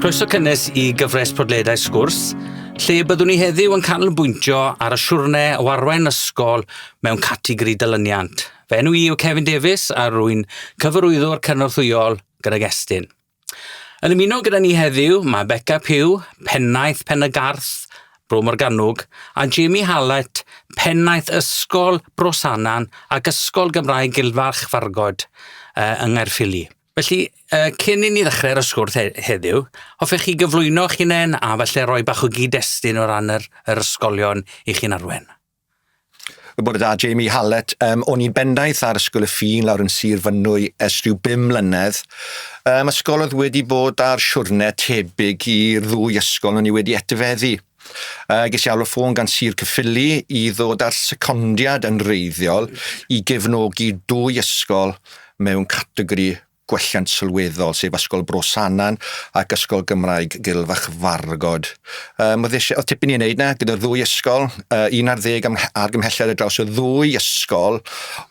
Croeso cynnes i gyfres podledau sgwrs, lle byddwn ni heddiw yn canolbwyntio ar y siwrne o arwain ysgol mewn categori dylyniant. Fe enw i yw Kevin Davies a rwy'n cyfarwyddwr cynorthwyol gydag Estyn. Yn ymuno gyda ni heddiw, mae Beca Pugh, Pennaeth Pen-y-garth, Bro Morgannwg, a Jamie Hallett, Pennaeth Ysgol Bro Sanan ac Ysgol Gymraeg Gilfarch Fargod yng Nghaerffili. Felly, cyn i ni ddechrau y sgwrs heddiw, hoffech chi gyflwyno eich hunain a falle roi bach o gyd-destun o ran yr, yr ysgolion i chi'n arwen? Y bore da, Jamie Hallett. Um, o'n i'n bendaeth ar Ysgol y Ffin lawr yn Sir Fynwy ers rhyw bum mlynedd. Um, ysgol oedd wedi bod ar siwrne tebyg i'r ddwy ysgol o'n i wedi etifeddu. Uh, ges i alw ffôn gan Sir Cyffili i ddod ar secondiad yn reiddiol i gefnogi dwy ysgol mewn categori gwelliant sylweddol, sef Ysgol Bro Sanan ac Ysgol Gymraeg Gilfachfargod. Mae um, eisiau, oedd tipyn i wneud na, gyda'r ddwy ysgol, uh, un ar ddeg am, ar gymhelliad y draws y ddwy ysgol,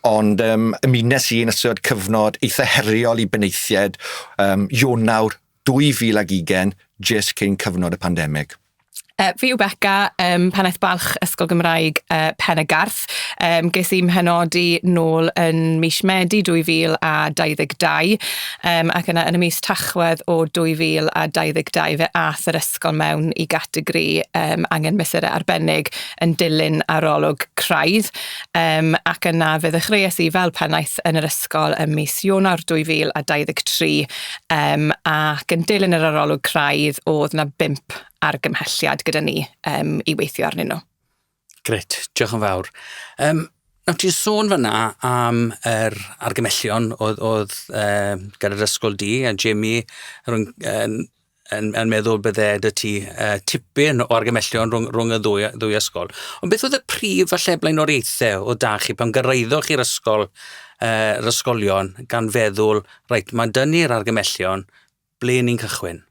ond um, ymunes i yn ystod cyfnod eitha heriol i benaethiaid um, Ionawr 2020, jyst cyn cyfnod y pandemig. Uh, fi yw Becca, um, pennaeth balch Ysgol Gymraeg uh, Pen y Garth. Um, ges i'n mhenodi nôl yn mis Medi 2022 um, ac yna yn y mis Tachwedd o 2022 fe ath yr ysgol mewn i gategori um, angen mesurau arbennig yn dilyn arolwg craidd um, ac yna fe ddechreuais i fel pennaeth yn yr ysgol ym mis Ionawr 2023 Um, ac yn dilyn yr arolwg craidd, oedd yna bimp argymhelliad gyda ni um, i weithio arnyn nhw. Gret, diolch yn fawr. Um, Nawr ti'n sôn fyna am yr argymellion oedd, oedd uh, gan yr ysgol di a Jamie rhwng, yn, yn, yn meddwl bydde dy ti uh, tipyn o argymellion rhwng, rhwng y ddwy, ddwy ysgol. Ond beth oedd y prif falle blaenoriaethau o da chi pan gyrraeddoch chi'r ysgol, uh, yr ysgolion gan feddwl Reit, mae'n dynnu'r argymellion. Ble ni'n cychwyn?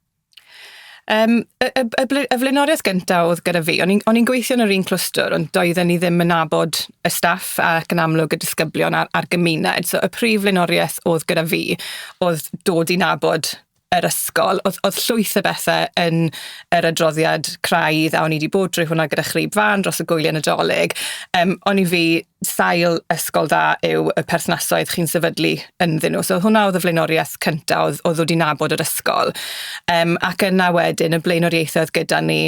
Um, y, y, y, y flaenoriaeth gyntaf oedd gyda fi, o'n i'n gweithio yn yr un clwstwr, ond doedden ni ddim yn nabod y staff ac yn amlwg y disgyblion a'r, ar gymuned. So y prif flaenoriaeth oedd gyda fi oedd dod i nabod yr ysgol. Oedd, oedd llwyth y bethau yn yr adroddiad craidd a o'n i wedi bod drwy hwnna gyda chryb fan dros y gwyliau nadolig. Um, o'n i fi sail ysgol dda yw y perthnasoedd chi'n sefydlu ynddyn nhw. So hwnna oedd y flaenoriaeth cyntaf, oedd, oedd wedi nabod yr ysgol. Um, ac yna wedyn, y blaenoriaethau oedd gyda ni,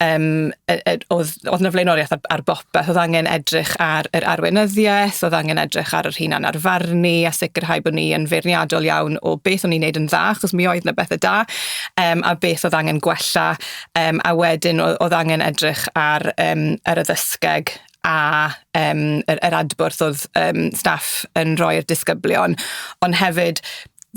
um, oedd, oedd yna flaenoriaeth ar, ar bopeth, oedd angen edrych ar yr arweinyddiaeth, oedd angen edrych ar yr hunan arfarnu a sicrhau bod ni yn feirniadol iawn o beth o'n i'n neud yn dda, achos mi oedd yna bethau da, um, a beth oedd angen gwella, um, a wedyn oedd, oedd angen edrych ar um, yr addysgeg a yym yr yr adborth o'dd yym staff yn rhoi i'r disgyblion ond hefyd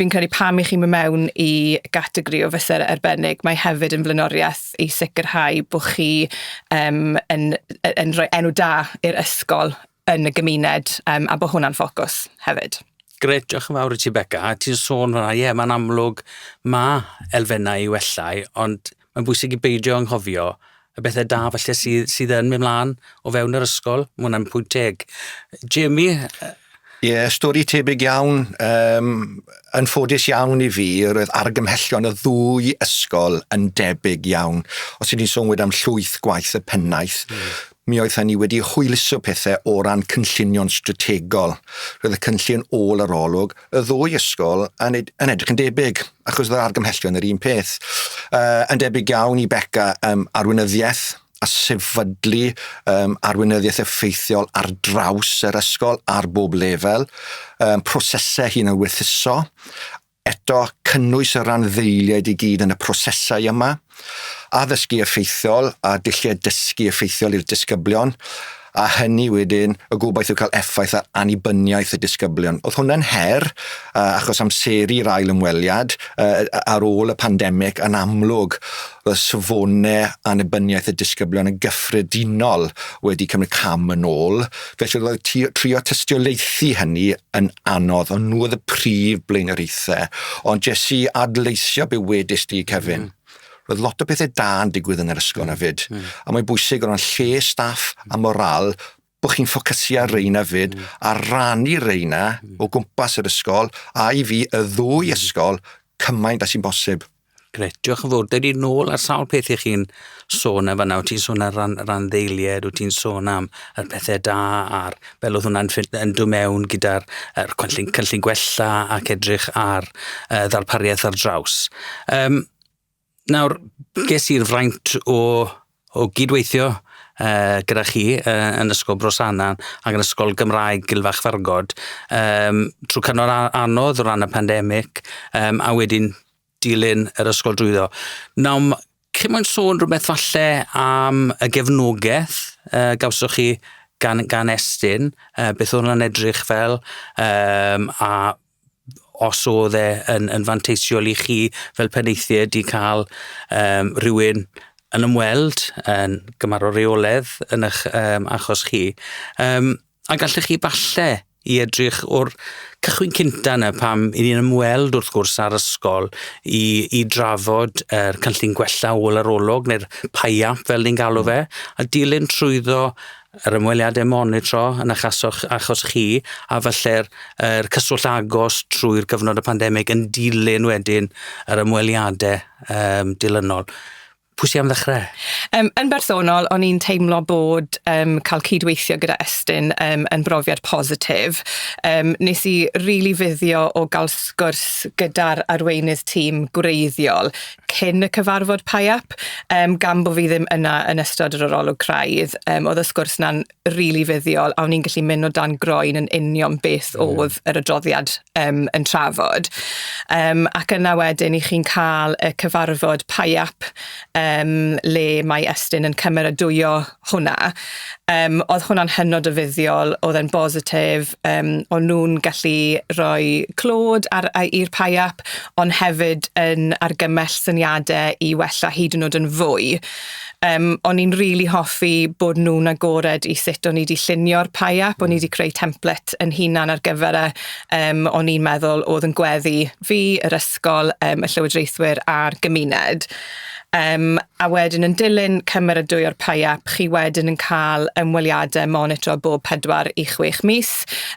fi'n credu pam i chi'n myn' mewn i gategori o fyse' arbennig mae hefyd yn flaenoriaeth i sicrhau bo' chi yym yn yy yn rhoi enw da i'r ysgol yn y gymuned yym a bo' hwnna'n ffocws hefyd. Grêt, diolch yn fawr i ti Beca. Ti'n sôn fan'na, ie, mae'n amlwg ma' elfennau i wella ond Mae'n bwysig i beidio anghofio y bethau da falle sydd, sydd yn mynd mlaen o fewn yr ysgol. Mae hwnna'n pwynt teg. Jamie? Ie, yeah, stori tebyg iawn. Um, yn ffodus iawn i fi, roedd argymhellion y ddwy ysgol yn debyg iawn. Os ydyn ni'n sôn wedam llwyth gwaith y pennaeth, mm. Mi oedden ni wedi hwyluso pethau o ran cynllunio'n strategol. Roedd y cynllun ôl arolwg y ddwy ysgol yn, ed yn edrych yn debyg, achos oedd yr argymhellion yr un peth. Uh, yn debyg iawn i Beca um, arweinyddiaeth a sefydlu um, arweinyddiaeth effeithiol ar draws yr ysgol ar bob lefel, um, prosesau hun yn wythuso, Eto, cynnwys y randdeiliaid i gyd yn y prosesau yma, addysgu effeithiol a dulliau dysgu effeithiol i'r disgyblion, a hynny wedyn, y gobaith yw cael effaith ar annibyniaeth y disgyblion. Oedd hwnna'n her, achos amseru'r ail ymweliad ar ôl y pandemig, yn amlwg, roedd safonau annibyniaeth y disgyblion yn gyffredinol wedi cymryd cam yn ôl. Felly roedd y tî- trio tystiolaethu hynny yn anodd, ond nhw oedd y prif blaenoriaethau. Ond jes i adleisio be wedis di, Kevin. Roedd lot o pethau da yn digwydd yn yr ysgol hefyd. A mae'n bwysig o ran lle staff a moral bod chi'n ffocysu ar reina fyd a rannu reina o gwmpas yr ysgol a i fi y ddwy ysgol cymaint a sy'n bosib. Grêt, diolch yn fawr. Dydy nôl ar sawl peth i chi'n sôn yn fanna. Wyt ti'n sôn ar ran randdeiliaid, wyt ti'n sôn am y pethau da a'r fel oedd hwnna'n ffit yn dod mewn gyda'r er, cynllun, cynllun gwella ac edrych ar uh, ddarpariaeth ar draws. Um, nawr, ges i'r fraint o O gyd-weithio yy gyda chi yy yn Ysgol Bro Sannan ac yn Ysgol Gymraeg Gilfach Fargod yym trw cyfnod a- anodd o ran y pandemic yym a wedyn dilyn yr ysgol drwyddo. Nawr m- cyn mwyn sôn rwbeth falle am y gefnogeth yy gawsoch chi gan gan Estyn yy beth o'dd wnna'n edrych fel yym a os oedd e yn yn fanteisiol i chi fel penaethiaid i ca'l yym rhywun yn ymweld yn gymarol reoledd yn ych yym achos chi yym a gallech chi falle i edrych o'r cychwyn cynta 'na pam 'yn ni'n ymweld wrth gwrs â'r ysgol i i drafod yr cynllun gwella ôl yr olwg ne'r PIAP fel ni'n galw fe a dilyn trwyddo yr ymweliadau monitro yn eich achos, achos chi a falle'r er cyswllt agos trwy'r cyfnod y pandemig yn dilyn wedyn yr ymweliadau um, dilynol. Pwy sy'n am ddechrau? Um, yn bersonol, o'n i'n teimlo bod um, cael cydweithio gyda Estyn um, yn brofiad positif. Um, nes i rili really fuddio o gael sgwrs gyda'r arweinydd tîm gwreiddiol cyn y cyfarfod PIAP, um, gan bod fi ddim yna yn ystod yr arolwg craidd, um, oedd y sgwrs yna'n rili really fuddiol, a o'n i'n gallu mynd o dan groen yn union beth mm. oedd yr adroddiad um, yn trafod. Um, ac yna wedyn i chi'n cael y cyfarfod PIAP, um, le mae Estyn yn cymeradwyo hwnna. Um, oedd hwnna'n hynod o fuddiol, oedd e'n bositif, um, o'n nhw'n gallu rhoi clod ar, i'r paiap, ond hefyd yn argymell syniadau i wella hyd yn oed yn fwy. Um, o'n i'n rili really hoffi bod nhw'n agored i sut o'n i wedi llunio'r paiap, o'n i wedi creu template yn hunan ar gyfer e, um, o'n i'n meddwl oedd yn gweddi fi, yr ysgol, um, y llywodraethwyr a'r gymuned. Yym, a wedyn yn dilyn cymeradwyo o'r PIAP, chi wedyn yn cael ymweliadau monitro bob pedwar i chwech mis.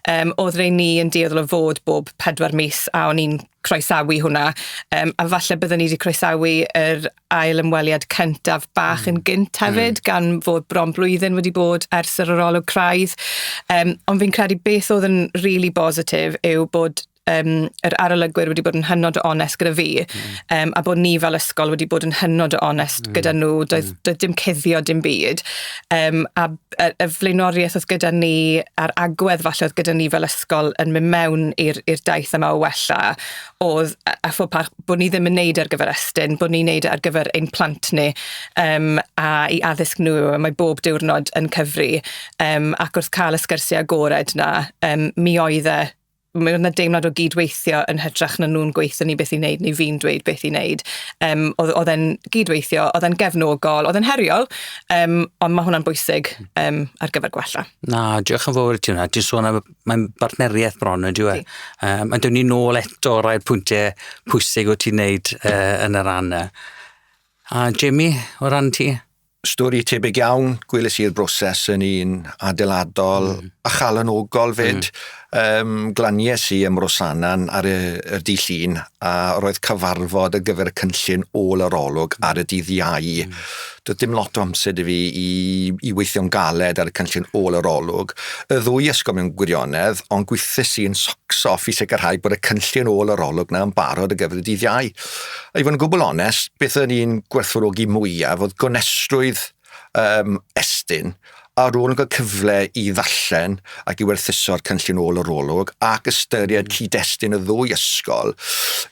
Yym, oedd rei ni yn dueddol o fod bob pedwar mis, a o'n i'n croesawu hwnna. Yym, a falle byddwn ni wedi croesawu yr ail ymweliad cyntaf bach yn gynt hefyd, gan fod bron blwyddyn wedi bod ers yr arolwg craidd. Yym, ond fi'n credu beth oedd yn rili bositif yw bod um, yr arolygwyr wedi bod yn hynod o onest gyda fi, mm. um, a bod ni fel ysgol wedi bod yn hynod o onest mm. gyda nhw, doedd, mm. doedd dim cuddio dim byd. Um, a, a, a flaenoriaeth oedd gyda ni, a'r agwedd falle oedd gyda ni fel ysgol yn mynd mewn i'r daith yma o wella, oedd a fod pa, bod ni ddim yn neud ar gyfer estyn, bod ni'n neud ar gyfer ein plant ni um, a i addysg nhw, mae bob diwrnod yn cyfri, um, ac wrth cael y sgyrsiau agored na, um, mi oedd e mae 'na deimlad o gydweithio yn hytrach na nhw'n gweithio ni beth i wneud neu fi'n dweud beth i wneud. Um, oedd, oedd e'n gydweithio, oedd e'n gefnogol, oedd e'n heriol, um, ond mae hwnna'n bwysig um, ar gyfer gwella. Na, diolch yn fawr i ti hwnna. Ti'n sôn am, mae'n bartneriaeth bron yn diwy. Um, a dyn ni nôl eto rhai'r pwyntiau pwysig o ti'n neud uh, yn yr anna. A Jamie, o ran ti? Stori tebyg iawn, gwelys i'r broses yn un adeiladol mm. a chalanogol fyd. Mm. Um, glanies i ym Rosanan ar y, y dydd llun a roedd cyfarfod ar gyfer y cynllun ôl yr olwg ar y dydd iau. Mm. Doedd dim lot o amser i fi i, i weithio'n galed ar y cynllun ôl yr olwg. Y ddwy ysgol mewn gwirionedd, ond gweithus i'n socso i sicrhau bod y cynllun ôl yr olwg na yn barod ar gyfer y dydd iau. I fod yn gwbl onest, beth o'n i'n gwerthfawrogi mwyaf oedd gonestrwydd um, Estyn ar ôl yn cael cyfle i ddarllen ac i werthuso'r cynllun ôl yr olwg ac ystyried mm. cyd-destun y ddwy ysgol,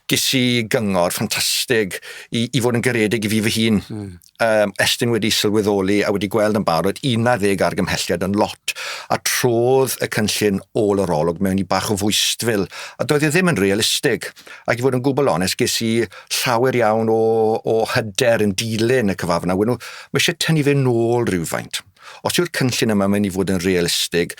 ges i gyngor ffantastig i, i fod yn garedig i fi fy hun. Mm. um, Estyn wedi sylweddoli a wedi gweld yn barod 11 argymhelliad yn lot a trodd y cynllun ôl yr olwg mewn i bach o fwystfil a doedd e ddim yn realistig ac i fod yn gwbl onest ges i llawer iawn o, o hyder yn dilyn y cyfafna. Wyn nhw, mae eisiau tynnu fe nôl rhywfaint. Os yw'r cynllun yma mynd i fod yn realistig,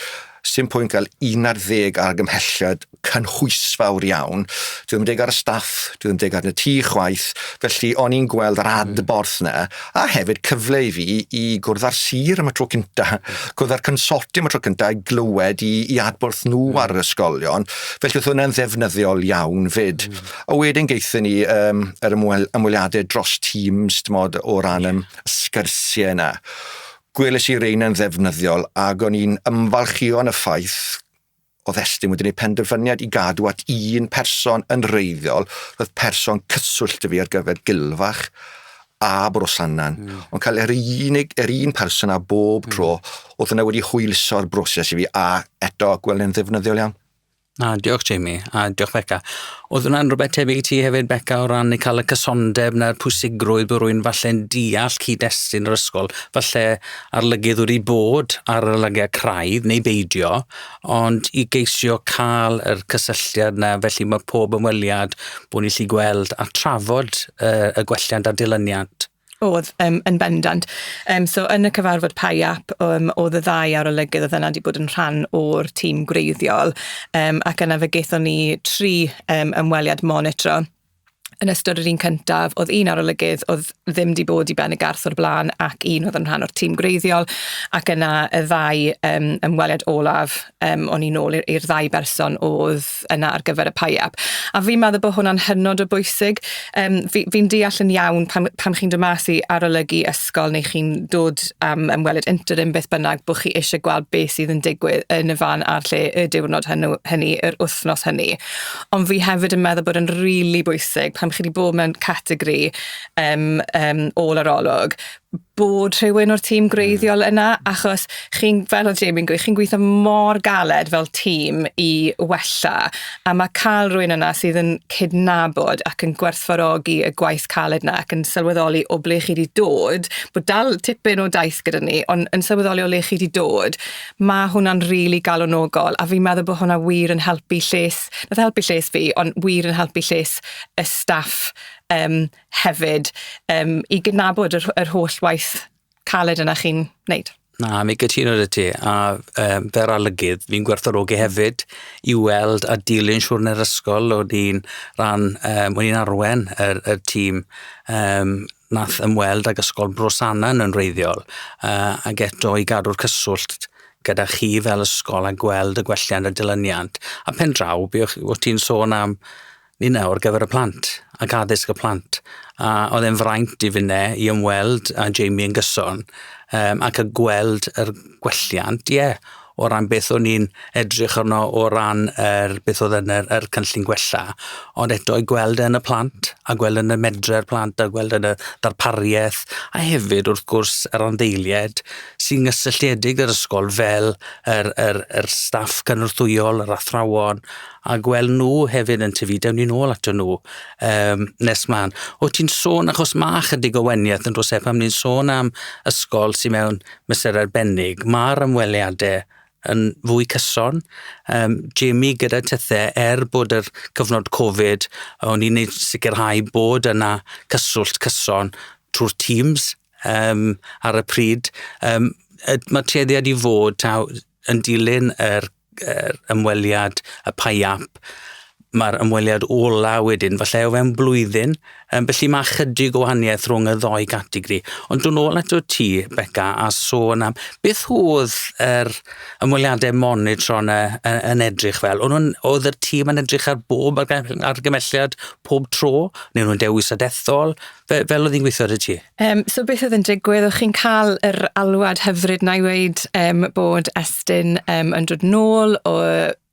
sy'n pwynt gael un ar ddeg argymhelliad cynhwysfawr iawn. Dwi ddim yn deg ar y staff, dwi ddim yn deg ar y tŷ chwaith, felly o'n i'n gweld yr hmm. adborth yna, a hefyd cyfle i fi i gwrdd â'r sir am y tro cynta, hmm. gwrdd â'r consortium am y tro cynta, i glywed i, i adborth nhw hmm. ar yr ysgolion, felly oedd hwnna'n ddefnyddiol iawn fyd. A wedyn geithio ni um, yr ymweliadau dros Teams, dim ond o ran... Yeah sgyrsiau yna. Gwelais i reina'n ddefnyddiol ac o'n i'n ymfalchio yn y ffaith o ddestun wedyn y penderfyniad i gadw at un person yn reiddiol, roedd person cyswllt y fi ar gyfer Gilfach a Brosannan, mm. ond cael yr unig, yr un person a bob hmm. tro, mm. oedd yna wedi hwyluso'r broses i fi, a eto gweld yn ddefnyddiol iawn. Na, diolch Jamie, a diolch Beca. Oedd hwnna'n rhywbeth tebyg i ti hefyd, Beca, o ran i cael y cysondeb na'r pwysigrwydd bod rwy'n falle'n deall cyd-destun yr ysgol, falle arlygydd wedi bod ar yr lygiau craidd neu beidio, ond i geisio cael yr cysylltiad na, felly mae pob ymweliad bod ni'n lli gweld a trafod uh, y gwelliant a dilyniant. O'dd, yym, yn bendant. Yym, so yn y cyfarfod PIAP, yym, o'dd y ddau arolygydd o'dd yna wedi bod yn rhan o'r tîm gwreiddiol, yym, ac yna fe gaethon ni tri yym, ymweliad monitro. Yn ystod yr un cyntaf, o'dd un arolygydd o'dd ddim 'di bod i Ben y Garth o'r bla'n ac un o'dd yn rhan o'r tîm gwreiddiol, ac yna y ddau yym, ymweliad olaf, um, o'n i'n ôl i'r ddau berson oedd yna ar gyfer y PIAP. A fi'n meddwl bod hwnna'n hynod o bwysig. Um, Fi'n fi deall yn iawn pan, pan chi'n dod mas i arolygu ysgol neu chi'n dod am um, ymweled interim beth bynnag bod chi eisiau gweld beth sydd yn digwydd yn y fan a'r lle y diwrnod hynny, hynny yr wythnos hynny. Ond fi hefyd yn meddwl bod yn rili really bwysig pan chi wedi bod mewn categori um, um, ôl arolwg bod rhywun o'r tîm gwreiddiol hmm. yna, achos chi'n, fel o Jamie'n gweud, chi'n gweithio mor galed fel tîm i wella, a mae cael rhywun yna sydd yn cydnabod ac yn gwerthfarogi y gwaith caled yna ac yn sylweddoli o ble chi wedi dod, bod dal tipyn o daith gyda ni, ond yn sylweddoli o le chi wedi dod, mae hwnna'n rili really galonogol, a fi'n meddwl bod hwnna wir yn helpu lles, nath helpu lles fi, ond wir yn helpu lles y staff um, hefyd um, i gydnabod yr, yr holl waith caled yna chi'n wneud. Na, mi gytuno dy ti, a um, fer alygydd, fi'n gwerthorogi hefyd i weld a dilyn siwrn yr ysgol, o'n i'n rhan, um, o'n i'n arwen yr, y tîm um, nath ymweld ag ysgol Brosanan yn reiddiol, uh, ac eto i gadw'r cyswllt gyda chi fel ysgol a gweld y gwelliant a dilyniant. A pen draw, byddwch ti'n sôn am Ninnau ar gyfer y plant ac addysg y plant a oedd e'n fraint i finne i ymweld â Jamie yn gyson yym ac y gweld yr gwelliant ie o ran beth o'n i'n edrych arno o ran yr beth oedd yn yr yr cynllun gwella ond eto i gweld e yn y plant a gweld yn y medre'r plant a gweld yn y darparieth a hefyd wrth gwrs yr anddeilied sy'n gysylltiedig yr ysgol fel yr yr yr staff cynorthwyol yr athrawon a gweld nhw hefyd yn tyfu, dewn ni nôl ato nhw um, nes mlaen. O ti'n sôn, achos mae chydig o weniaeth yn dros e, pan ni'n sôn am ysgol sy'n mewn mesur arbennig, mae'r ymweliadau yn fwy cyson. Um, Jamie gyda tythau, er bod yr cyfnod Covid, o'n i'n neud sicrhau bod yna cyswllt cyson trwy'r Teams um, ar y pryd. Um, mae tueddiad i fod taw, yn dilyn yr yr ymweliad, y Pi App, mae'r ymweliad ola wedyn, falle o fewn blwyddyn. Um, felly mae chydig o wahaniaeth rhwng y ddoi gategori. Ond dwi'n ôl eto ti, Beca, a sôn am beth oedd yr er ymweliadau monitro yn, yn, yn edrych fel? O'n oedd yr tîm yn edrych ar bob argymhelliad pob tro? Neu nhw'n dewis adethol? Fe, fel oedd hi'n gweithio ar y ti? Um, so beth oedd yn digwydd? O'ch chi'n cael yr alwad hyfryd na i weid um, bod Estyn um, yn dod nôl o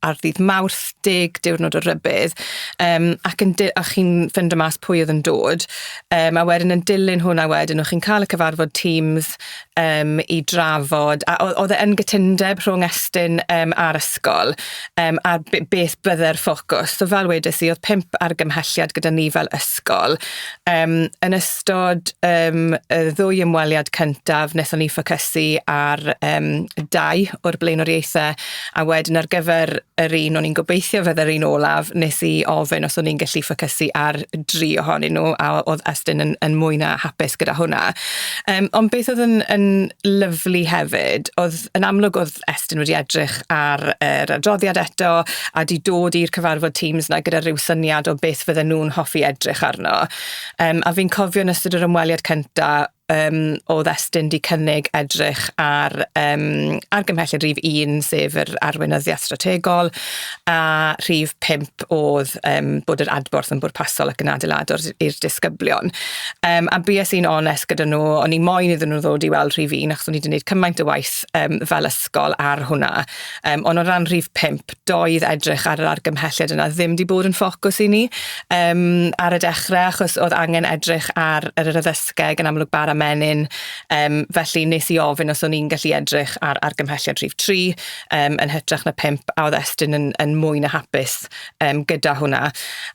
ar ddydd mawrth deg diwrnod o rybydd um, ac yn a chi'n fynd y mas pwy oedd yn dod um, a wedyn yn dilyn hwnna wedyn o'ch chi'n cael y cyfarfod Teams um, i drafod, a oedd e yn gytundeb rhwng Estyn um, a'r ysgol um, ar beth bydde'r ffocws. So fel wedes i, oedd pimp argymhelliad gyda ni fel ysgol. Um, yn ystod um, y ddwy ymweliad cyntaf, wnaethon ni ffocysu ar um, dau o'r blaenoriaethau A wedyn ar gyfer yr un o'n i'n gobeithio fydde'r un olaf, nes i ofyn os o'n i'n gallu ffocysu ar dri ohonyn nhw, a oedd Estyn yn, yn mwy na hapus gyda hwnna. Um, ond beth oedd yn, yn lyflu hefyd, oedd yn amlwg oedd Estyn wedi edrych ar yr er adroddiad eto, a di dod i'r cyfarfod Teams na gyda rhyw syniad o beth fydden nhw'n hoffi edrych arno. Um, a fi'n cofio yn ystod yr ymweliad cyntaf, um, oedd Estyn wedi cynnig edrych ar um, argymhelliad rhif 1, sef yr arweinyddiaeth strategol, a rhif 5 oedd um, bod yr adborth yn bwrpasol ac yn adeiladwr i'r disgyblion. Um, a bues i'n onest gyda nhw, o'n i moyn iddyn nhw ddod i weld rhif 1, achos o'n i wedi gwneud cymaint o waith um, fel ysgol ar hwnna. Um, ond o ran rhif 5, doedd edrych ar yr argymhelliad yna ddim wedi bod yn ffocws i ni um, ar y dechrau, achos oedd angen edrych ar yr addysgeg yn amlwg bara menyn. Um, felly nes i ofyn os o'n i'n gallu edrych ar argymhelliad rhif 3 um, yn hytrach na 5, a oedd Estyn yn, yn mwy na hapus um, gyda hwnna.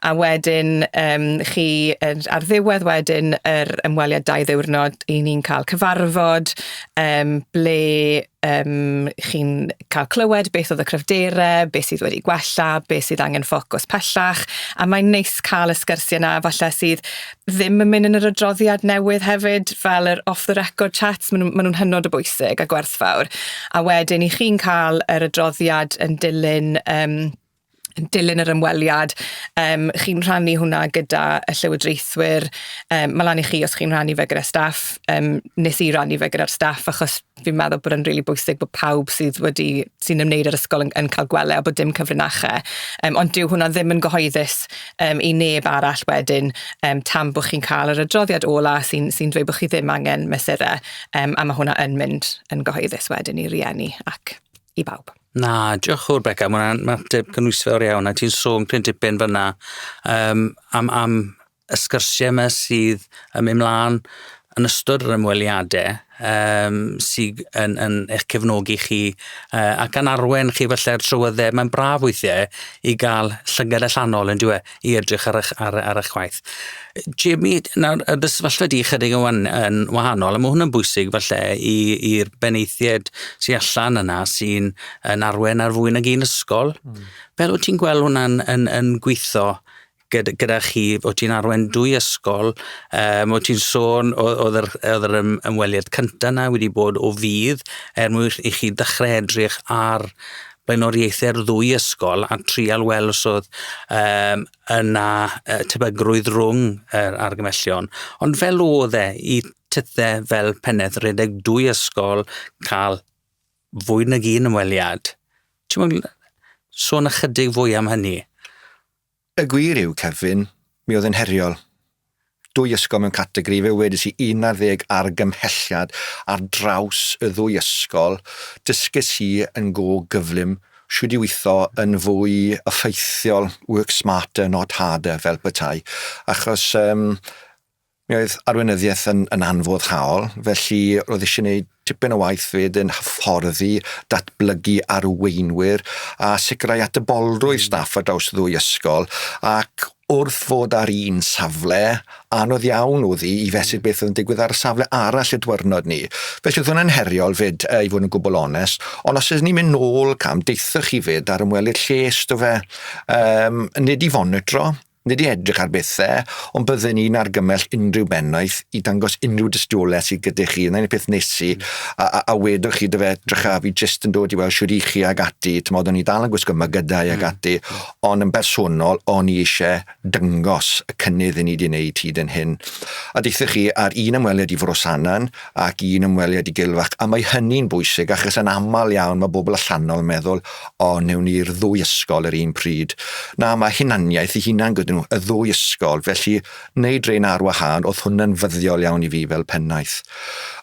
A wedyn um, chi ar ddiwedd wedyn yr ymweliad dau ddiwrnod, i ni'n cael cyfarfod um, ble um, chi'n cael clywed beth oedd y cryfderau, beth sydd wedi gwella, beth sydd angen ffocws pellach, a mae'n neis cael y sgyrsiau yna falle sydd ddim yn mynd yn yr adroddiad newydd hefyd, fel yr off the record chats, maen nhw'n ma nhw hynod o bwysig a gwerthfawr. A wedyn i chi'n cael yr adroddiad yn dilyn um, yn dilyn yr ymweliad, um, chi'n rhannu hwnna gyda y llywodraethwyr. Um, mae lan i chi os chi'n rhannu fe gyda staff. Um, nes i rannu fe gyda'r staff achos fi'n meddwl bod yn rili really bwysig bod pawb sydd wedi sy'n ymwneud â'r ysgol yn, yn cael gwele a bod dim cyfrinachau. Um, ond dyw hwnna ddim yn gyhoeddus um, i neb arall wedyn um, tan bod chi'n cael yr adroddiad ola sy'n sy dweud bod chi ddim angen mesurau um, a mae hwnna yn mynd yn gyhoeddus wedyn i rieni ac i bawb. Na, diolch yn fawr Beca, mae hwnna'n mateb cynhwysfawr iawn, a ti'n sôn pryn dipyn fyna um, am, am y sgyrsiau yma sydd yn mynd mlaen yn ystod yr ymweliadau um, sydd yn, yn eich cefnogi chi uh, ac yn arwen chi felly'r trywyddau. Mae'n braf weithiau i gael llygad allanol yn dweud, i edrych ar eich ar ar eich gwaith. Jamie, nawr y dy sefyllfa di chydig yn wan- yn wahanol a ma' hwn yn bwysig falle i i'r benaethied sy allan yna sy'n yn arwen ar fwy nag un ysgol. Hmm. Fel wyt ti'n gweld hwnna'n yn yn gwitho gyda gyda chi? Wyt ti'n arwen dwy ysgol, yym wyt ti'n sôn o o'dd yr o'dd yr ym- ymweliad cynta 'na wedi bod o fudd er mwyn i chi ddechre edrych ar blaenoriaethau'r ddwy ysgol a trial weld os oedd um, yna uh, tebygrwydd rhwng yr uh, argymellion. Ond fel oedd e i tythe fel penedd redeg dwy ysgol cael fwy nag un ymweliad. Ti'n mwyn sôn ychydig fwy am hynny? Y gwir yw, Kevin, mi oedd yn heriol. Dwy ysgol mewn categori, fe wedis i 11 argymhelliad ar draws y ddwy ysgol, dysges i yn go gyflym shwd i weithio yn fwy effeithiol, work smarter not harder fel petai, achos yym Mi oedd arweinyddiaeth yn, yn anfoddhaol, felly roedd eisiau gwneud tipyn o waith fyd yn hyfforddi, datblygu arweinwyr a sicrhau atebolrwydd hmm. staff ar draws ddwy ysgol ac wrth fod ar un safle, anodd iawn oedd hi i fesur beth oedd yn digwydd ar y safle arall y dwyrnod ni. Felly oedd hwnna'n heriol fyd, uh, i fod yn gwbl onest. Ond os ydyn ni'n mynd nôl cam, deithoch chi fyd ar ymwelydd lles, do fe, um, nid i fonitro, Nid i edrych ar bethau, ond bydden i'n argymell unrhyw bennaeth i dangos unrhyw dystiolaeth sydd gyda chi. Yna un peth nes i, a, a, a wedodd chi dy fe, drycha, fi jyst yn dod i weld siwr i chi ag ati, ti'n modd, o'n i dal yn gwisgo mygydau ag mm. ati, ond yn bersonol, o'n i eisiau dyngos y cynnydd i ni wedi wneud hyd yn hyn. A deithoch chi, ar un ymweliad i Frosanan, ac un ymweliad i gylf ac a mae hynny'n bwysig achos yn aml iawn mae bobl allanol yn meddwl o newn ni'r ddwy ysgol yr un pryd. Na mae hunaniaeth i hunan gyda nhw, y ddwy ysgol, felly wneud rein ar wahân oedd hwnna'n fyddiol iawn i fi fel pennaeth.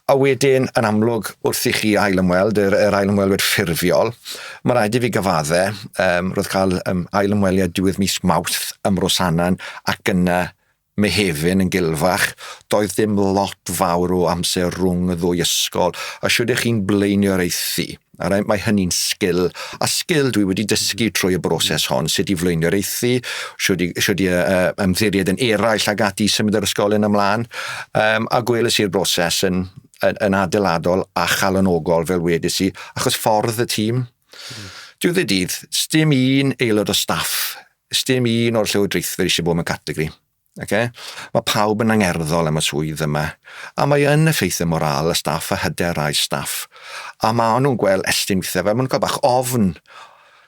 A wedyn yn amlwg wrth i chi ail ymweld, yr, yr ail ymwelwyr ffurfiol, mae rhaid i fi gyfadde, um, roedd cael um, ail ymweliad diwedd mis Mawrth ym Mrosanan ac yna Mehefin yn gilfach, Doedd dim lot fawr o amser rhwng y ddwy ysgol, a shwd ych chi'n blaenioraethu? Alright, mae hynny'n sgil, a sgil dwi wedi dysgu trwy y broses hon, sut i flaenioraethu, shwd i, shwd i uh, ymddiried yn eraill ag ati i symud yr ysgol yn ymlaen, um, a gwelys i'r broses yn, yn, yn adeiladol a chalonogol fel wedys i, achos ffordd y tîm. Mm. Diwedd y dydd, dim un aelod o staff Does dim un o'r llywodraethwyr eisiau bod mewn categori. Okay? Mae pawb yn angerddol am y swydd yma, a mae yn effeithio moral y staff a hyder rai staff. A mae nhw'n gweld estyn weithiau fel maen nhw'n cael bach ofn.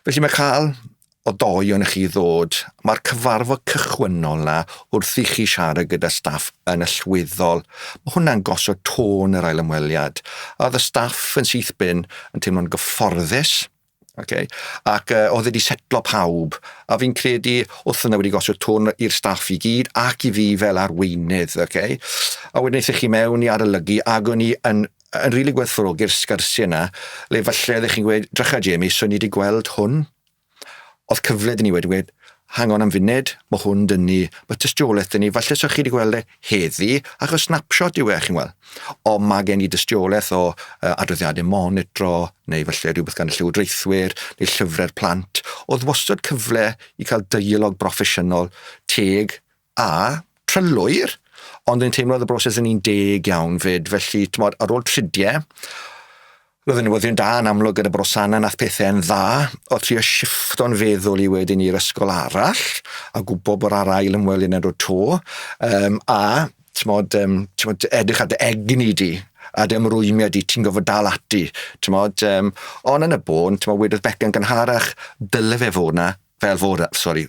Felly mae cael o doi o'n chi ddod, mae'r cyfarfod cychwynnol na wrth i chi siarad gyda staff yn allweddol. Mae hwnna'n gosod tôn yr ail ymweliad. A oedd y staff yn syth bin yn teimlo'n gyfforddus, Okay. Ac uh, oedd wedi setlo pawb, a fi'n credu wrth yna wedi gosod tôn i'r staff i gyd ac i fi fel arweinydd, okay? a wedyn eithaf chi mewn i arolygu ac o'n i yn, yn rili really gwerthfawrogi'r sgyrsiau yna, le falle ydych chi'n gweud, drycha Jamie, so ni wedi gweld hwn, oedd cyfle dyn ni wedi gweud, Hang on am funed, ma hwn dŷ ni, ma tystiolaeth dŷ ni, falle sa chi di gweld e heddi, achos snapshot yw e, chi'n gweld. Ond ma gen i dystiolaeth o uh, adroddiadau monitro, neu falle rhywbeth gan y llywodraethwyr, neu llyfrau'r plant. Oedd wastad cyfle i cael deialog broffesiynol, teg, a trylwyr, ond yn teimlo oedd y broses yn un deg iawn fyd, felly, tmod, ar ôl trudie, roedd y newyddion da yn amlwg gyda Brosana nath pethau yn dda, o trio shifto'n feddwl i wedyn i'r ysgol arall, a gwybod bod ar ail ymwelydd yn dod to, um, a, tmod, um, tmod, edrych ar dy egni di, a dy ymrwymiad di, ti'n gofod dal ati, tmod, um, ond yn y bôn, tmod, wedodd Becca'n gynharach, dyle fe fod na, fel fod, sori,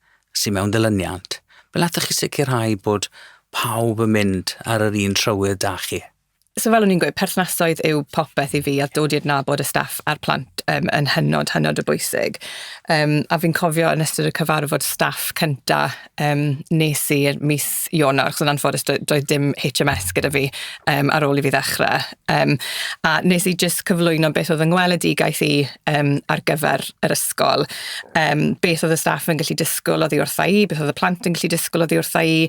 sydd mewn dilyniant, fel allwch chi sicrhau bod pawb yn mynd ar yr un trywydd 'da chi? So fel o'n i'n gweud, perthnasoedd yw popeth i fi a dod i adnabod y staff a'r plant um, yn hynod, hynod o bwysig. Um, a fi'n cofio yn ystod y cyfarfod staff cynta um, nes i mis Ionawr, chos yn anffodus doedd dim HMS gyda fi um, ar ôl i fi ddechrau. Yym, a nes i jyst cyflwyno beth oedd yng ngweledigaeth i yym ar gyfer yr ysgol. Yym, beth oedd y staff yn gallu disgwyl oddi wrtha i, beth oedd y plant yn gallu disgwyl oddi wrtha i,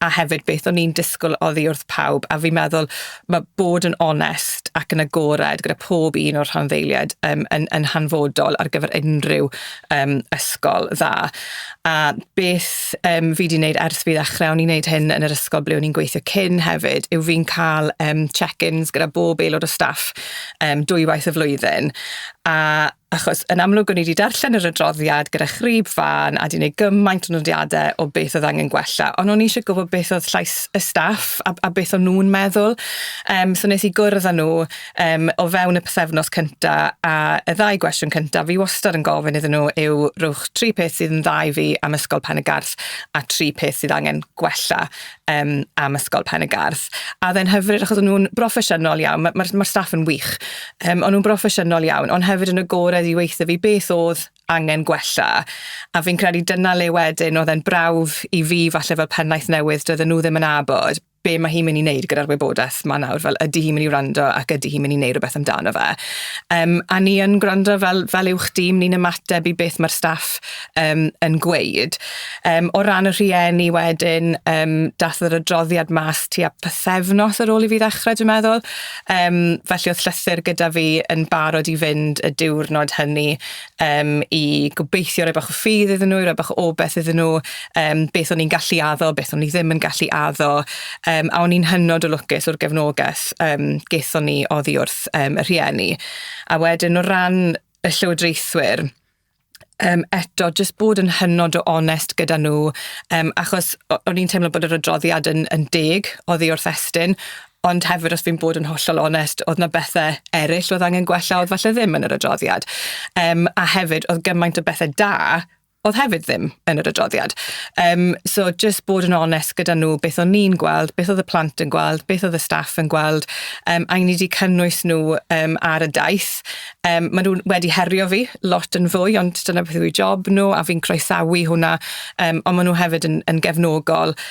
a hefyd beth o'n i'n disgwyl oddi wrth pawb. A fi'n meddwl ma' bod yn onest ac yn agored gyda pob un o'r rhanddeiliaid yym yn yn hanfodol ar gyfer unrhyw yym ysgol dda. a beth yym fi 'di neud ers fi ddechre, o'n i'n neud hyn yn yr ysgol ble o'n i'n gweithio cyn hefyd, yw fi'n ca'l yym check-ins gyda bob aelod o staff yym dwywaith y flwyddyn, a achos yn amlwg o'n i 'di darllen yr adroddiad gyda chrib fân a 'di neud gymaint o nodiade o beth o'dd angen gwella, on' o'n i isie gwbod beth o'dd llais y staff a b- a beth o'n nw'n meddwl, yym so nes i gwrdd â nw Yym, o fewn y pythefnos cynta a y ddau gwestiwn cynta, fi wastad yn gofyn iddyn nhw yw rhowch tri peth sydd yn dda i fi am Ysgol Pen-y-garth a tri peth sydd angen gwella um, am Ysgol Pen-y-garth. A dde'n hyfryd achos o'n nhw'n broffesiynol iawn, mae'r ma, ma, ma staff yn wych, um, o'n nhw'n broffesiynol iawn, ond hefyd yn agored i weithio fi beth oedd angen gwella. A fi'n credu dyna le wedyn oedd e'n brawf i fi falle fel pennaeth newydd doedden nhw ddim yn abod be mae hi'n mynd i wneud gyda'r wybodaeth ma nawr, fel ydy hi'n mynd i wrando ac ydy hi'n mynd i wneud rhywbeth amdano fe. Um, a ni yn gwrando fel, fel uwch dîm, ni'n ymateb i beth mae'r staff um, yn gweud. Um, o ran y rhieni wedyn, um, dath yr adroddiad mas tu a pythefnos ar ôl i fi ddechrau, dwi'n meddwl. Um, felly oedd llythyr gyda fi yn barod i fynd y diwrnod hynny um, i gobeithio rhoi bach o ffydd iddyn nhw, i rhoi bach o obeth iddyn nhw, um, beth o'n i'n gallu addo, beth o'n i ddim yn gallu addo, um, a o'n i'n hynod o lwcus o'r gefnogaeth um, gaethon ni oddi wrth um, y rhieni. A wedyn o ran y llywodraethwyr, um, eto, jyst bod yn hynod o onest gyda nhw, um, achos o'n i'n teimlo bod yr adroddiad yn, yn deg oddi wrth Estyn, Ond hefyd, os fi'n bod yn hollol onest, oedd na bethau eraill oedd angen gwella, oedd falle ddim yn yr adroddiad. Um, a hefyd, oedd gymaint o bethau da oedd hefyd ddim yn yr adroddiad. Um, so, just bod yn onest gyda nhw beth o'n ni'n gweld, beth oedd y plant yn gweld, beth oedd y staff yn gweld, um, a ni wedi cynnwys nhw um, ar y daith. Um, maen nhw wedi herio fi lot yn fwy, ond dyna beth yw'i job nhw, a fi'n croesawu hwnna, um, ond maen nhw hefyd yn, yn gefnogol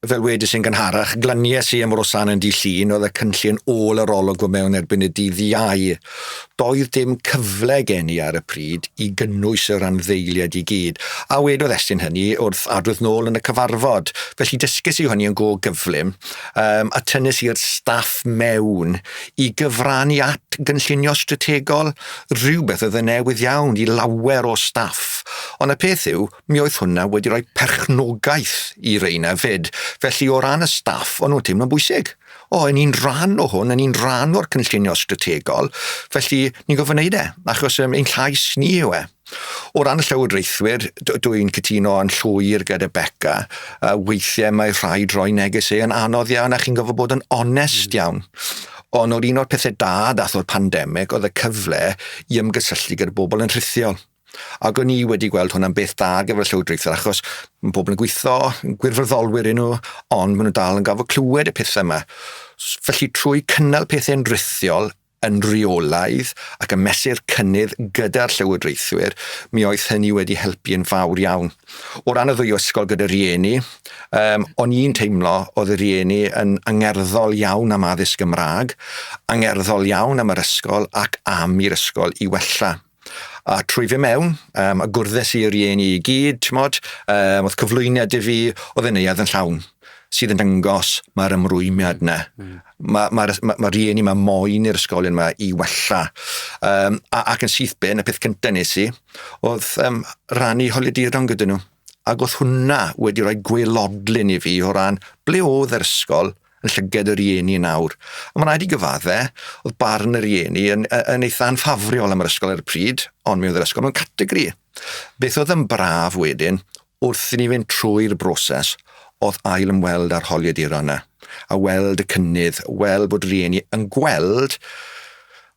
Fel wedes i'n gynharach, glanies i am Rosanne yn Dydd Llun, oedd y cynllun ôl yr olwg o mewn erbyn y dydd Iau. Doedd dim cyfle gen i ar y pryd i gynnwys y rhanddeiliaid i gyd, a wedodd Estyn hynny wrth adrodd nôl yn y cyfarfod, felly dysges i hynny yn go gyflym um, a tynnais i'r staff mewn i gyfrannu at gynllunio strategol, rhywbeth oedd yn newydd iawn i lawer o staff. Ond y peth yw, mi oedd hwnna wedi rhoi perchnogaeth i reina fyd. Felly o ran y staff, o'n nhw'n teimlo'n bwysig. O, yn un rhan o hwn, yn un rhan o'r cynllunio strategol, felly ni'n gofyn wneud e, achos um, ein llais ni yw e. O ran y llywodraethwyr, dwi'n cytuno yn llwyr gyda Becca, uh, weithiau mae rhaid rhoi neges ei yn anodd iawn a chi'n gofod bod yn onest mm. iawn. Ond o'r un o'r pethau da dath o'r pandemig oedd y cyfle i ymgysylltu gyda bobl yn rhithiol. Ac o'n i wedi gweld hwnna'n beth da ar gyfer y llywodraethwyr achos mae pobl yn gweithio, gwirfoddolwyr yn nhw, ond maen nhw dal yn gafod clywed y pethau yma. Felly trwy cynnal pethau'n rithiol yn rheolaidd ac yn mesur cynnydd gyda'r llywodraethwyr, mi oedd hynny wedi helpu yn fawr iawn. O ran y ddwy ysgol gyda rhieni, um, o'n i'n teimlo oedd y rhieni yn angerddol iawn am addysg Gymraeg, angerddol iawn am yr ysgol ac am i'r ysgol i wella. A trwy fy mewn, um, a gwrddes i y rieni i gyd, mod, um, oedd cyflwyniad i fi, oedd yn neuad yn llawn sydd yn dangos mae'r ymrwymiad yna. Mm. Mae'r ma, ma, ma rieni mae moyn i'r ysgolion yma i wella. Um, a, ac yn syth ben, y peth cyntaf nes i, oedd um, rannu holiaduron gyda nhw. Ac oedd hwnna wedi rhoi gwelodlun i fi o ran ble oedd yr ysgol, yn llyged y rieni yn awr. Ond mae'n rhaid i gyfadde, oedd barn y rieni yn, yn eitha anffafriol am yr ysgol ar y pryd, ond mi oedd yr ysgol mewn categori. Beth oedd yn braf wedyn, wrth i ni fynd trwy'r broses, oedd ail ymweld â'r holiaduron yna, a weld y cynnydd, weld bod rieni yn gweld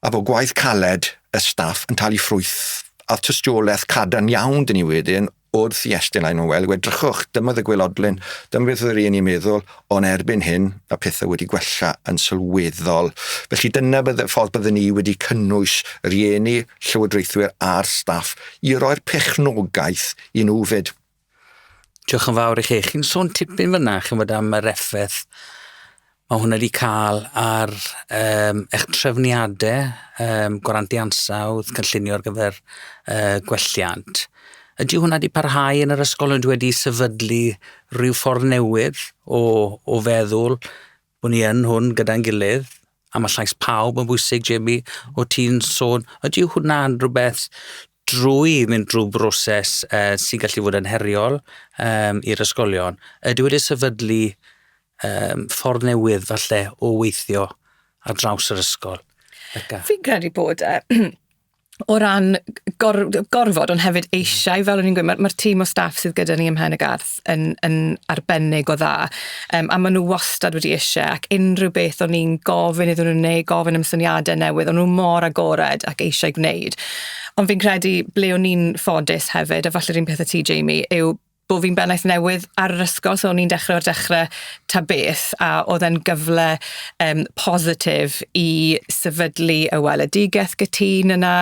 a bod gwaith caled y staff yn talu ffrwyth a tystiolaeth cadarn iawn dyn ni wedyn Wrth i Estyn a'i Noelle edrychwch, dyma oedd y gwaelodlin. Dyma beth oedd yr un i'n meddwl, ond erbyn hyn, mae pethau wedi gwella yn sylweddol. Felly dyna bydde, ffordd byddwn ni wedi cynnwys rhieni, llywodraethwyr a'r staff i roi'r pechnogaeth i nhw fyd. Diolch yn fawr i chi. Chi'n sôn tipyn fyna, chi'n bod am yr effaith Mae hwn wedi cael ar um, eich trefniadau um, gwarantu ansawdd, cynllunio ar gyfer uh, gwelliant. Ydy hwnna wedi parhau yn yr ysgol? Ydy wedi sefydlu rhyw ffordd newydd o, o feddwl bod ni yn hwn gyda'n gilydd? A mae llais pawb yn bwysig, Jamie, o ti'n sôn. Ydy hwnna'n rhywbeth drwy mynd drwy broses uh, sy'n gallu fod yn heriol um, i'r ysgolion? Ydy wedi sefydlu um, ffordd newydd falle o weithio ar draws yr ysgol. Fi'n credu bod e, o ran gor, gorfod, ond hefyd eisiau, fel o'n i'n gweud, mae'r ma tîm o staff sydd gyda ni ym Mhen y Garth yn, yn arbennig o dda, um, a maen nhw wastad wedi eisiau, ac unrhyw beth o'n i'n gofyn iddyn nhw neu gofyn am syniadau newydd, o'n nhw mor agored ac eisiau gwneud. Ond fi'n credu ble o'n i'n ffodus hefyd, a falle rhywun peth y ti, Jamie, yw bo' fi'n bennaeth newydd ar yr ysgol so o'n i'n dechre o'r dechre ta beth a o'dd e'n gyfle yym positif i sefydlu y weledigeth gytun yna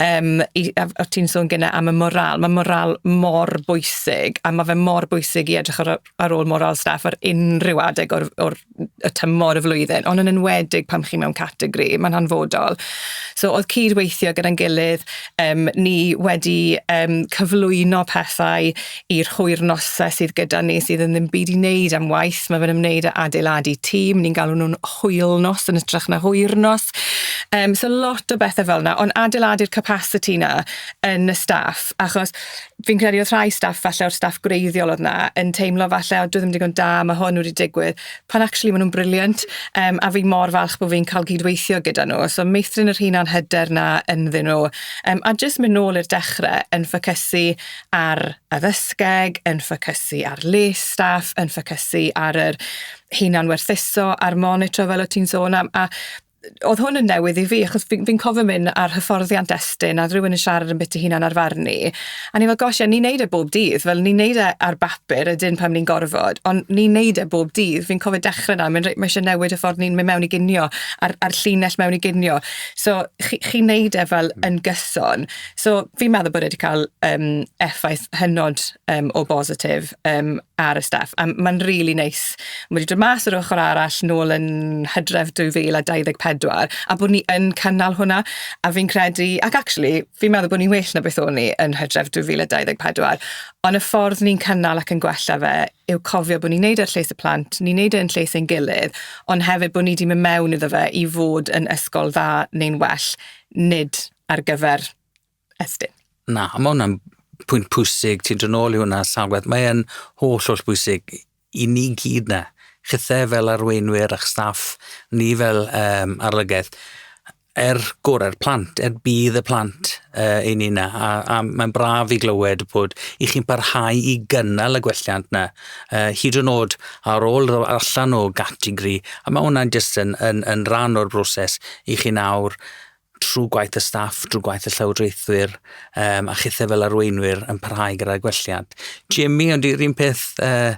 yym i a f- o' ti'n sôn gynne am y morâl ma' morâl mor bwysig a ma' fe mor bwysig i edrych ar y ar ôl morâl staff ar unryw adeg o'r o'r y tymor, y flwyddyn, ond yn enwedig pan chi mewn categori, mae'n hanfodol. So oedd cyd-weithio gyda'n gilydd, um, ni wedi um, cyflwyno pethau i'r hwyr nosau sydd gyda ni sydd yn ddim byd i wneud am waith, mae fe'n ymwneud â adeiladu tîm, ni'n galw nhw'n hwyl nos yn ytrach na hwyr nos. Um, so lot o bethau fel yna, ond adeiladu'r capacity yna yn y staff, achos fi'n credu oedd rhai staff, falle o'r staff gwreiddiol oedd na, yn teimlo falle, o, dwi ddim digon da, mae hwn wedi digwydd, pan actually maen nhw'n briliant, um, a fi mor falch bod fi'n cael gydweithio gyda nhw. So meithrin yr hunan hyder na ynddyn nhw. Um, a jyst mynd nôl i'r dechrau yn ffocysu ar addysgeg, yn ffocysu ar les staff, yn ffocysu ar yr hunan werthuso, a'r monitro fel o ti'n sôn am, a oedd hwn yn newydd i fi, achos fi'n fi cofio mynd ar hyfforddiant Estyn, a rhywun yn siarad yn bit i hunan ar farn ni, a ni fel, gosh, ie, ni'n neud e bob dydd, fel ni'n neud e ar bapur, ydyn pan ni'n gorfod, ond ni'n neud e bob dydd. Fi'n cofio dechrau na, mae'n reit, mae eisiau newid y ffordd ni'n mynd mewn i ginio, a'r, ar llinell mewn i ginio. So, chi, chi neud e fel yn gyson. So, fi'n meddwl bod e wedi cael um, effaith hynod um, o bositif um, ar y staff, a mae'n really neis wedi dod mas yr ochr arall nôl yn Hydref 2024, a bod ni yn cynnal hwnna, a fi'n credu, ac actually, fi'n meddwl bod ni'n well na beth o'n ni yn Hydref 2024, ond y ffordd ni'n cynnal ac yn gwella fe yw cofio bod ni'n neud e ar lles y plant, ni'n neud e yn lles ein gilydd, ond hefyd bod ni wedi mynd mewn iddo fe i fod yn ysgol dda neu'n well, nid ar gyfer Estyn. Na, mae hwnna'n pwynt pwysig, ti'n dod nôl i hwnna salwedd, mae'n holl holl bwysig i ni gyd na, chithe fel arweinwyr a'ch staff, ni fel um, arlygaeth, er gorau'r plant, er bydd y plant uh, i ni na, a, a mae'n braf i glywed bod i chi'n parhau i gynnal y gwelliant na, uh, hyd yn oed ar ôl allan o gategori, a mae hwnna'n jyst yn, yn, yn rhan o'r broses i chi'n awr trwy gwaith y staff, drwy gwaith y llywodraethwyr um, a chithau fel arweinwyr yn parhau gyda'r gwelliad. Jimmy, ond yr un peth, uh,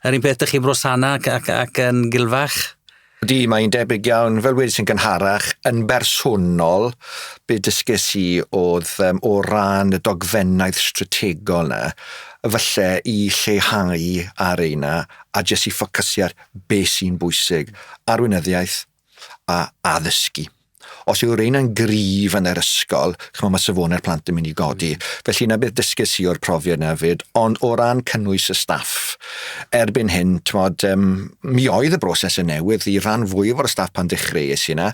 yr un peth ydych chi'n brosana ac, ac, ac yn gilfach? Di, mae'n debyg iawn, fel wedi sy'n gynharach, yn bersonol, be dysges i oedd um, o ran y dogfennaeth strategol na, falle i lleihau ar eina a jyst i ffocysu ar beth sy'n bwysig. Arweinyddiaeth, a addysgu. Os yw reina'n gryf yn yr ysgol, chymod, mae safonau'r plant yn mynd i godi. Mm. Felly yna beth dysges i o'r profiad yna fyd, ond o ran cynnwys y staff, erbyn hyn, tymod, um, mi oedd y broses yn newydd i ran fwy o'r staff pan ddechreuais i yna,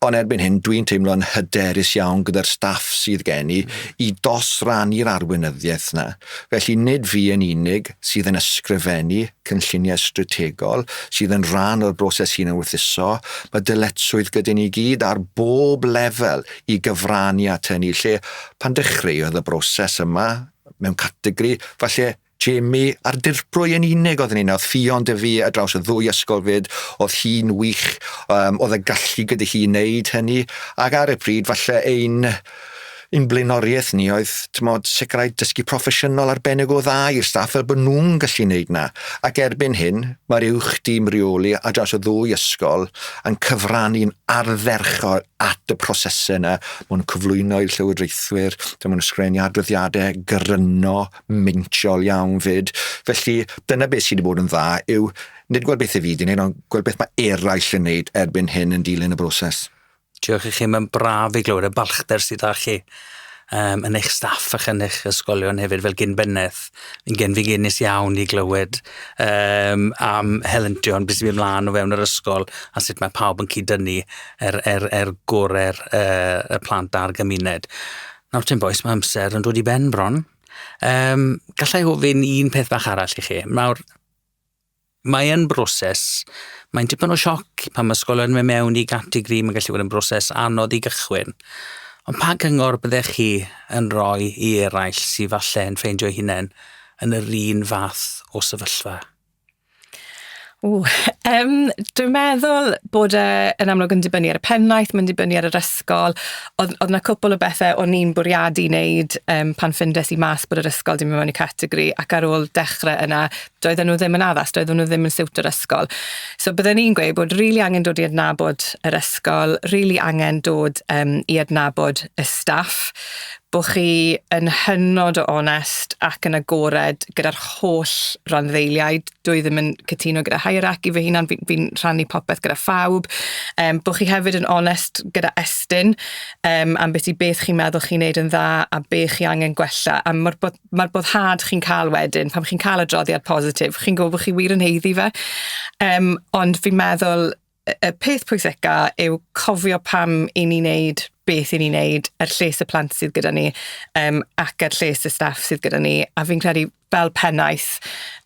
ond erbyn hyn dwi'n teimlo'n hyderus iawn gyda'r staff sydd gen i mm. i dosrannu'r arweinyddiaeth yna. Felly nid fi yn unig sydd yn ysgrifennu cynlluniau strategol sydd yn rhan o'r broses hunan-werthuso, mae dyletswydd gyda ni gyd ar bob lefel i gyfrannu at hynny, lle pan dechreuodd y broses yma mewn categori, falle Jamie a'r dirprwy yn unig oedd yn un, oedd Ffion dy fi ar draws y ddwy ysgol fyd, oedd hi'n wych, um, oedd y gallu gyda hi wneud hynny, ac ar y pryd falle ein Ein blaenoriaeth ni oedd, t'mod, sicrhau dysgu proffesiynol arbennig o dda i'r staff fel bod nhw'n gallu wneud 'na. Ac erbyn hyn, mae'r Uwch Dîm Rheoli ar draws y ddwy ysgol yn cyfrannu'n ardderchog at y prosesau yna. Maen nhw'n cyflwyno i'r llywodraethwyr, maen nhw'n ysgrifennu adroddiadau gryno, meintiol iawn 'fyd. Felly, dyna beth sydd wedi bod yn dda yw nid gweld beth 'y fi 'di wneud ond gweld beth mae eraill yn wneud erbyn hyn yn dilyn y broses. Diolch i chi, mae'n braf i glywed y balchder sydd â chi um, yn eich staff ac yn eich ysgolion hefyd fel gyn bennaeth. Yn gen fi genus iawn i glywed um, am helyntion beth sy'n mynd mlaen o fewn yr ysgol a sut mae pawb yn cyd-dynnu er, er, er gorau'r uh, y plant a'r gymuned. Nawr ti'n boes, mae amser yn dod i ben bron. Um, gallai ofyn un peth bach arall i chi. Nawr, Mae e'n broses, mae'n dipyn o sioc pan mae ysgolion yn mynd mewn i gategori, mae'n gallu bod yn broses anodd i gychwyn. Ond pa gyngor byddech chi yn rhoi i eraill sydd falle yn ffeindio hunain yn yr un fath o sefyllfa? Ww, um, dwi'n meddwl bod e yn amlwg yn dibynnu ar y pennaeth, mae'n dibynnu ar yr ysgol. Oedd, oedd yna cwpl o bethau o'n i'n bwriadu wneud um, pan ffindes i mas bod yr ysgol dim yn mynd i categori ac ar ôl dechrau yna, doedden nhw ddim yn addas, doedden nhw ddim yn siwt yr ysgol. So byddwn i'n gweud bod rili really angen dod i adnabod yr ysgol, rili really angen dod um, i adnabod y staff, bod chi yn hynod o onest ac yn agored gyda'r holl randdeiliaid. Dwi ddim yn cytuno gyda hierarchy fy hunan, fi'n fi, rhannu popeth gyda phawb. Um, bod chi hefyd yn onest gyda estyn um, am beth i beth chi'n meddwl chi'n neud yn dda a beth chi angen gwella. A mae'r bod mae'r boddhad chi'n cael wedyn, pan chi'n cael adroddiad positif, chi'n gwybod bod chi wir yn heiddi fe. Um, ond fi'n meddwl, y peth pwysica yw cofio pam i ni wneud beth i ni wneud, er lles y plant sydd gyda ni, um, ac er lles y staff sydd gyda ni. A fi'n credu, fel pennaeth,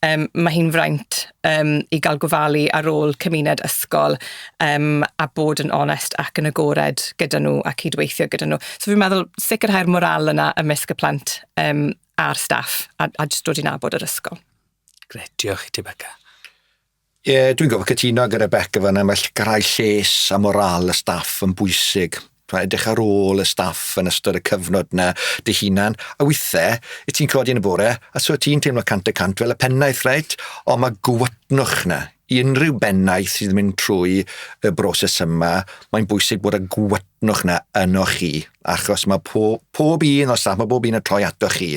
um, mae hi'n fraint um, i gael gofalu ar ôl cymuned ysgol um, a bod yn onest ac yn agored gyda nhw a cydweithio gyda nhw. So fi'n meddwl sicrhau'r moral yna ymysg y plant um, a'r staff a, a jyst dod i'n abod yr ysgol. Gret, diolch i ti Becca. Ie, yeah, dwi'n gofio cytuno gyda Becca fan yma, sicrhau lles a moral y staff yn bwysig. Mae edrych ar ôl y staff yn ystod y cyfnod yna dy hunan, a weithiau, i ti'n codi yn y bore, a so ti'n teimlo cant y cant fel y pennaeth, reit? Ond mae gwytnwch yna. I unrhyw bennaeth sydd yn mynd trwy y broses yma, mae'n bwysig bod y gwytnwch yna yno chi, achos mae po, pob un o staff, mae bob un yn troi ato chi.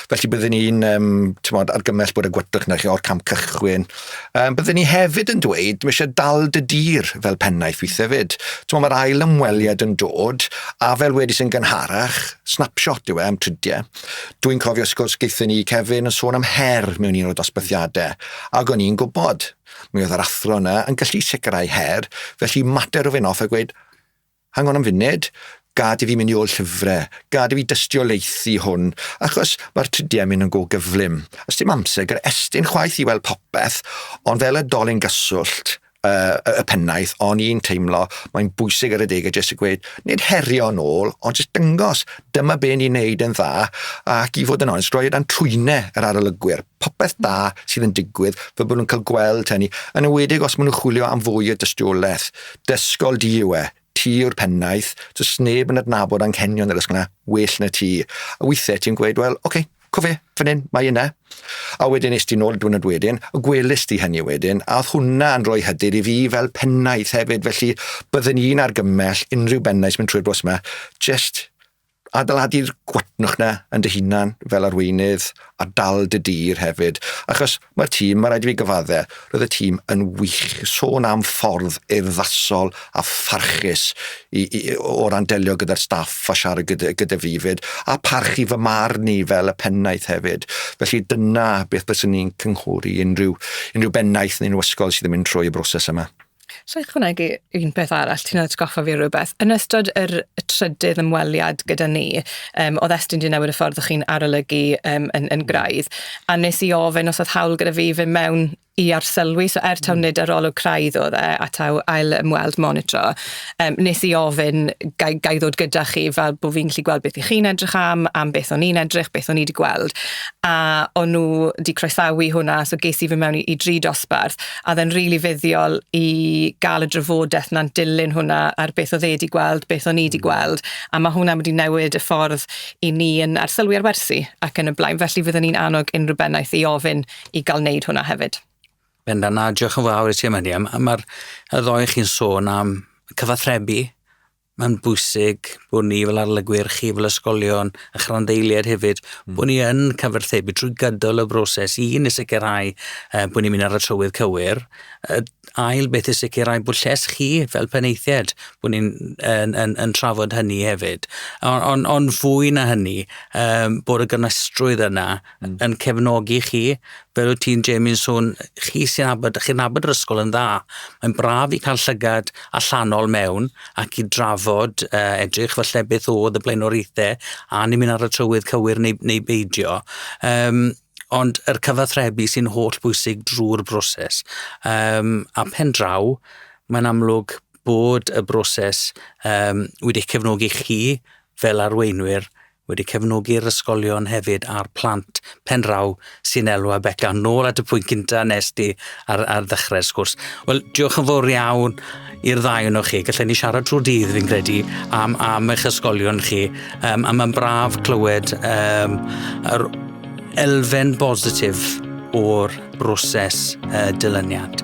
Felly byddwn ni'n um, tymod, argymell bod y gwydrych na chi o'r camp cychwyn. Um, byddwn ni hefyd yn dweud, mae eisiau dal dy dir fel pennaeth weithio fyd. Tymod, mae'r ail ymweliad yn dod, a fel wedi sy'n gynharach, snapshot yw e am tridiau. Dwi'n cofio sgwrs geithio ni Kevin yn sôn am her mewn un o dosbythiadau, ac o'n i'n gwybod, mi oedd yr athro yna yn gallu sicrhau her, felly mater o fyn off a gweud, Hang on am funud, gad i fi mynd i ôl llyfre, gad i fi dystiolaethu hwn, achos mae'r tridiau mynd yn go gyflym. Os dim amser gyda Estyn chwaith i weld popeth, ond fel y dolyn gyswllt uh, y pennaeth, o'n i'n teimlo, mae'n bwysig ar y degau jyst i gweud, nid herio yn ôl, ond jyst dyngos, dyma be ni'n neud yn dda, ac i fod yn onest, roi dan trwyne yr arolygwyr, popeth da sydd yn digwydd, fe bod nhw'n cael gweld hynny, yn ywedig os maen nhw'n chwilio am fwy o dystiolaeth. Dysgol di yw e, ti yw'r pennaeth, does neb yn adnabod anghenion yr ysgol na, well na ti. A weithiau ti'n gweud, wel, oce, okay, co fe, fan hyn, mae yna. A wedyn nes ti'n ôl y diwrnod wedyn, a gwelus di hynny wedyn, a oedd hwnna yn rhoi hyder i fi fel pennaeth hefyd, felly byddwn i'n argymell unrhyw bennaeth sy'n mynd trwy'r bws yma, just adeiladu'r gwatnwch 'na yn dy hunan fel arweinydd a dal dy dir hefyd. Achos mae'r tîm, mae rhaid i fi gyfadde, roedd y tîm yn wych. Sôn am ffordd urddasol a pharchus i, i, o ran delio gyda'r staff a siarad gyda, gyda fi fyd, a parchu fy marn i fel y pennaeth hefyd. Felly dyna beth byswn i'n cynghori unrhyw, unrhyw bennaeth neu unrhyw ysgol sydd yn mynd trwy y broses yma. Sa i ychwanegu un peth arall, ti'n atgoffa fi o rywbeth. Yn ystod yr y trydydd ymweliad gyda ni, um, oedd Estyn di newid y ffordd o'ch chi'n arolygu um, yn, yn graidd, a nes i ofyn os oedd hawl gyda fi fy mewn i arsylwi, so er taw hmm. nid arolwg craidd oedd e, a taw ail ymweld monitro, um, nes i ofyn gai, gai ddod gyda chi fel bod fi'n gallu gweld beth i chi'n edrych am, am beth o'n i'n edrych, beth o'n i wedi gweld, a o'n nhw wedi croesawu hwnna, so ges i fy mewn i, i dri dosbarth, A oedd e'n rili fuddiol i gael y drafodaeth 'na'n dilyn hwnna ar beth oedd e 'di gweld, beth o'n i 'di hmm. gweld, a mae hwnna wedi newid y ffordd i ni yn arsylwi ar wersi ac yn y blaen. Felly fydden ni'n annog unrhyw bennaeth i ofyn i gael wneud hwnna hefyd. Benda, na, diolch yn fawr i ti am hynny. Mae'r y ddoen chi'n sôn am cyfathrebu, mae'n bwysig bod ni fel arlygwyr, chi fel ysgolion, a chranddeiliaid hefyd, mm. bod ni yn cyfarthebu trwy gydol y broses i ni sicrhau uh, bod ni'n mynd ar y trywydd cywir. Uh, ail beth i sicrhau bod lles chi fel peneithiad, bod ni'n yn, yn, yn trafod hynny hefyd. Ond on, on fwy na hynny, um, bod y gymestrwydd yna mm. yn cefnogi chi, fel wyt ti'n Jamie'n sôn, chi sy'n abod, chi'n abod yr ysgol yn dda. Mae'n braf i cael llygad allanol mewn ac i drafod uh, edrych falle beth oedd y blaenoriaethau a ni'n mynd ar y trywydd cywir neu, neu beidio. Um, ond yr cyfathrebu sy'n holl bwysig drwy'r broses. Um, a pen draw, mae'n amlwg bod y broses um, wedi cefnogi chi fel arweinwyr wedi cefnogi'r ysgolion hefyd a'r plant pen draw sy'n elw a Beca. Nôl at y pwynt cynta nes di ar, ar ddechrau'r sgwrs. Wel, diolch yn fawr iawn i'r ddau yno chi. Gallai ni siarad trwy dydd fi'n credu am, am eich ysgolion chi. Um, a mae'n braf clywed um, yr elfen bositif o'r broses uh, dilyniant.